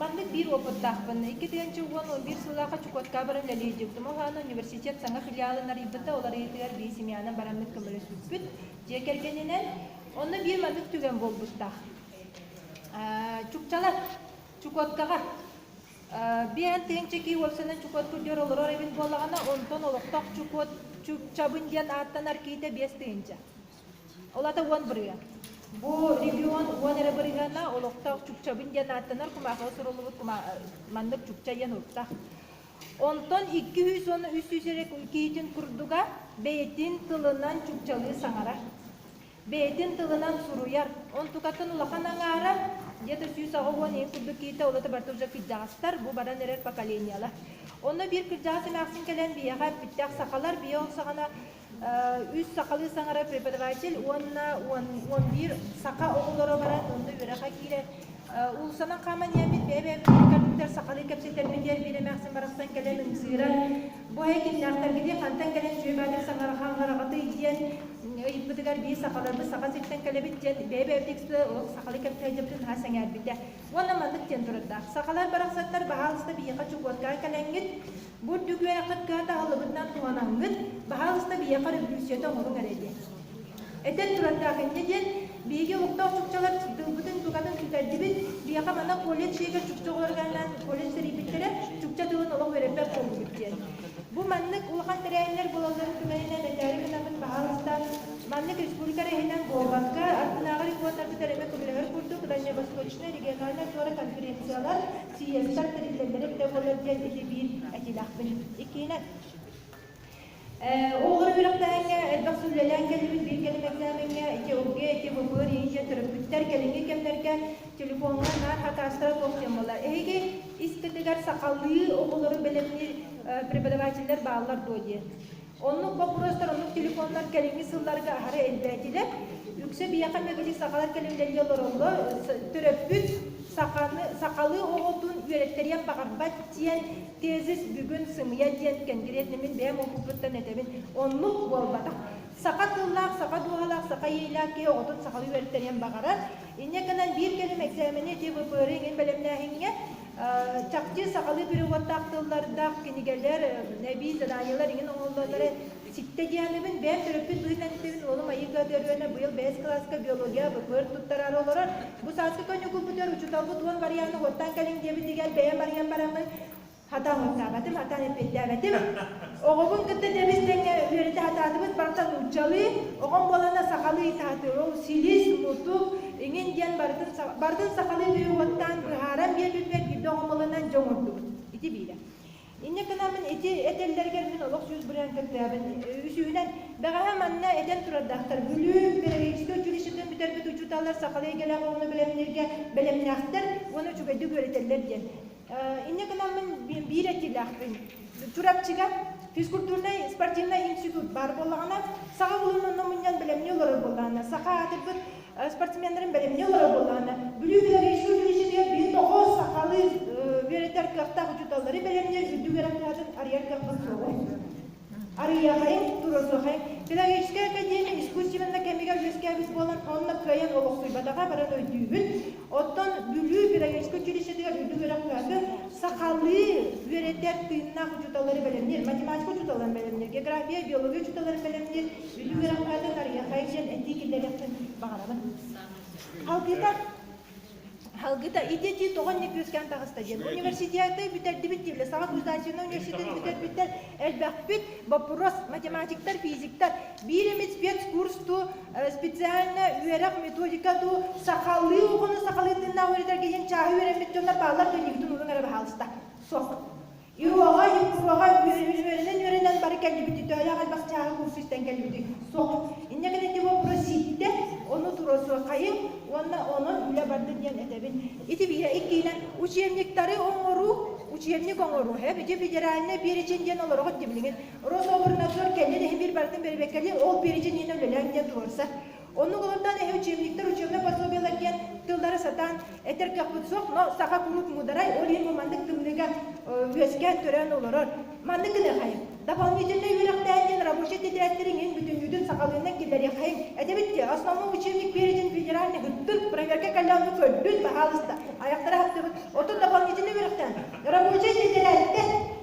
Маннык биир опыттаахпын. Иккитигэн уон он биир сыллаахха Чукотка баран үлэлиирдим. Оһоон университет саҥа филиалын арыйбыта, ол арыйыытыгар биисимианан бараммыт көмөлөспүппүт. Дьиэ кэргэнинэн. Онно биир маннык түгэн буолбуттаах. Чукчалар, Чукоткаҕа биээн тыын чэкии уопсанан Чукот курдьар олорор эбин буоллаҕына, онтон олохтоох Чукот Чукчабын диэн ааттанар киитэ биэс тыһыынча. Ол аата уон бырыһыан. Бу регион уон эрэ бырыһыана олохтоох Чукчабын диэн ааттанар кумаахыга суруллубут маннык Чукча диэн уруттах. Онтон 200 уонна 300 эрэ күн киһитин курдуга бэйэтин тылынан чукчалыы саҥарар. Бэйэтин тылынан суруйар. Онтукатын улахан аҥаарар, где-то сүүс аҕа уон ийэ курдук киһитэ улата барыта уже кырдьаҕастар, бу баран эрэр поколениела. Онно биир кырдьаҕас эмээхсин кэлэн биһиэхэ эппиттээх сахалар биһиэхэ саҕана Үс сахалыы саҥара преподаватель уонна уон уон биир саха оҕолоро баран онно үөрэххэ киирэр. Уулуссанан хааман иһэммит бэйэ-бэйэбитин ыккардыттан сахалыы кэпсэтэрбин диэн биир эмээхсин барахсан кэлэн ымсыыран, бу эһэ кимнээхтэргитий, хантан кэлэн дьүө баатыр саҥараха аҥараҕытый диэн ыйыппытыгар биир сахаларбыт саха сиртэн кэлэбит диэн бэйэ-бэйэбитин ыксыы сахалыы кэпсэһиэбитин наһаа сэҥээрбитэ. Уонна маннык диэн турардаах. Сахалар барахсаттар баһаалыста биһиэхэ чугуотка кэлэҥҥит, Бу дьүкээххит кыһа таһылыгытынан туһанаҥҥыт, баһаалыста биһиэхэ революцията оҥоруҥ эрэ диэн. Этэн турардаахинньэ диэн, биһиги олохтоох чукчалар тылбытын-тугатын сүтэрдибит, биһиэхэ манна колледж иһигэр чукча оҕолорун ааннаан колледж тэрийбиттэрэ, чукча тылын олох үөрэммэт буоллубут диэн. Бу маннык улахан тэрээһиннэр буолалларын түмэлинэн мэтээли гынабыт баһаалыста маннык республика эрэһинэн буолбакка, ардынааҕы рекордтарга тэлэмэ көмөлөһөр курдук Дальневосточнай региональнай туора конференциялар Сийиэстэр тэриллэллэрин бөҕөлөр диэн ити биир этиилээхпин. Иккиһинэн, ол олорор үөрэхтээһиҥҥэ элбэх сүллэлээн кэллибит биир кэлим экзамеҥҥа ити ОГЭ, ити БПР иһиттэн төрөппүттэр кэлиҥҥи кэмнэргэ телефоҥҥа наар хакаастара туох диэн буолла. Эһиги иститигэр сахалыы оҕолору бэлэмниир преподавателлэр бааллар дуо диэн. Оннук боппуруостар оннук телефоннар кэлиҥҥи сылларга аһары элбээтилэр. Үксэ биһиэхэ мөбүлүк сахалар көлүөнэлэргэ олороллор. Төрөппүт саханы, сахалыы оҕотун үөрэттэриэн баҕарбат диэн тезис бүгүн сымыйа диэн кэнгириэт мин бэйэм опыппыттан этэбин. Оннук буолбатах. Саха тыллаах, саха дууһалаах, саха иэйэлээх киһи оҕотун сахалыы үөрэттэриэн баҕарар. Инньэ гынан биир кэлим экзамены ити ВПР-ы иҥин бэлэмнээһиҥҥэ Чахчы сахалыы переводтаах тыллардаах кинигэлэр, эбии заданиелар иҥин оҥоллоллоро ситтэ диэхинэбин, бэйэм төрөппүт быһыытынан истэбин, уолум айыыга төрүөнэ быйыл бэйэс кылааска биология БКР туттарары олорор. Бу сааскы күннүкү бытар учуталбыт уон барыйааны уоттан кэлиҥ диэбин дигэр бэйэм барыйан бараммын хатаамыттаабатым, атаан эппиэттээбэтим. Оҕобун кытта тэбис-тэҥҥэ үөрэтэ сатаатыбыт барыта нууччалыы, оҕом буолана сахалыы саатырыл, силис, мутук, Эҥин диэн барытын сахалыы тыа уоттаан быһааран биэрбиппэр биирдэ оҕомолонон дьэ оҥордубут. Ити биирэ. Инньэ гынан мин ити этэллэригэр мин олох сүүс бырыһан кэпсээбин. Үсүһүнэн, бэҕэһээ манна этэн турардаахтар, Бүлүү педагогическай училищетын бүтэрбит учууталлар сахалыы эйгэлээх оҕону бэлэмнииргэ бэлэмнээхтэр уонна үчүгэйдик үөрэтэллэр диэн. Инньэ гынаммын биир этиилээхпин. Чурапчыга физкультурнай спортивнай институт баар буоллаҕына, саха улуннуунна мунньан бэлэмнии олорор буоллаҕына, саха аатырбыт спортсменнарын бэлэмнии олорор буоллаҕына, Бүлүү дэлэгээссийэтигэр биир тоҕус сахалыы үөрэтэр кыахтаах учууталлары бэлэмниир үрдүк үөрэх кыһатын арыйар кыахпыт суоҕа. Арыйаҕай, туруорсуохай. Педагогическай академия искусственнай кэмигэр үөскээбит буолан, онно кыайан олохсуйбатаҕа баран өйдүүбүн. Оттон Бүлүү педагогическай училищетыгар үрдүк үөрэхтээхи сахалыы үөрэтэр тыыннаах учууталлары бэлэмниир, математика учууталларын бэлэмниир, география, биология учууталларын бэлэмниир үрдүк үөрэхтээхтэн Арыйаҕай диэн этии киллэриэхпин баҕарабын. Халгыта Алгыта идети тоҕон не күүскэн таҕыста диэн университеты бүтэрдибит тивле саха государственный университетин бүтэрбиттэр элбэхпит боппуруос математиктар физиктар бииримит спецкурс ту специально үөрэх методика ту сахалыы оҕону сахалыы тыннаах үөрэтэргэ иһин чааһы үөрэммит дьоннор бааллар көннигитин урун эрэ баһаалыста суох Йогаҕа, Югкубаҕа үөрэнэн үөрэнэн бары кэллибит, төөлөөх элбэх чааһы курс истэн кэллибит. Соҕус. Инньэ гынан ити боппуруос ииттэ, ону туруорсуоххайыҥ уонна онон үлэ барда диэн этэбин. Ити биһиэхэ иккиинэн учебниктары оҥоруу, учебник оҥоруу, федеральнай перечень диэн олорох ирдэбилигин, Рособрнадзор кэннин иһин биир барытын бэрибэккэлиин, ол перечень иһинэн үлэлээн диэн туруорсар. Оннук олортон эһэ учебниктар учебнай пособиелар диэн тыллары сатаан этэр кыахпыт суох, но саха куруук муударай, ол иһин бу маннык тымныыга үөскээн төрөөн олорор. Маннык гыныахайым. Дополнительнай үөрэхтээн диэн рабочий тетрадьтар иҥин бүтүннүүтүн сахалыынна киллэриэххэйин. Этебит тиэ, основной учебник перечень федеральный гыттык, проверка каллааны көрдүн, баһаалыста, аяктара хаттыбыт. Оттон дополнительнай үөрэхтээн рабочий тетрадьтан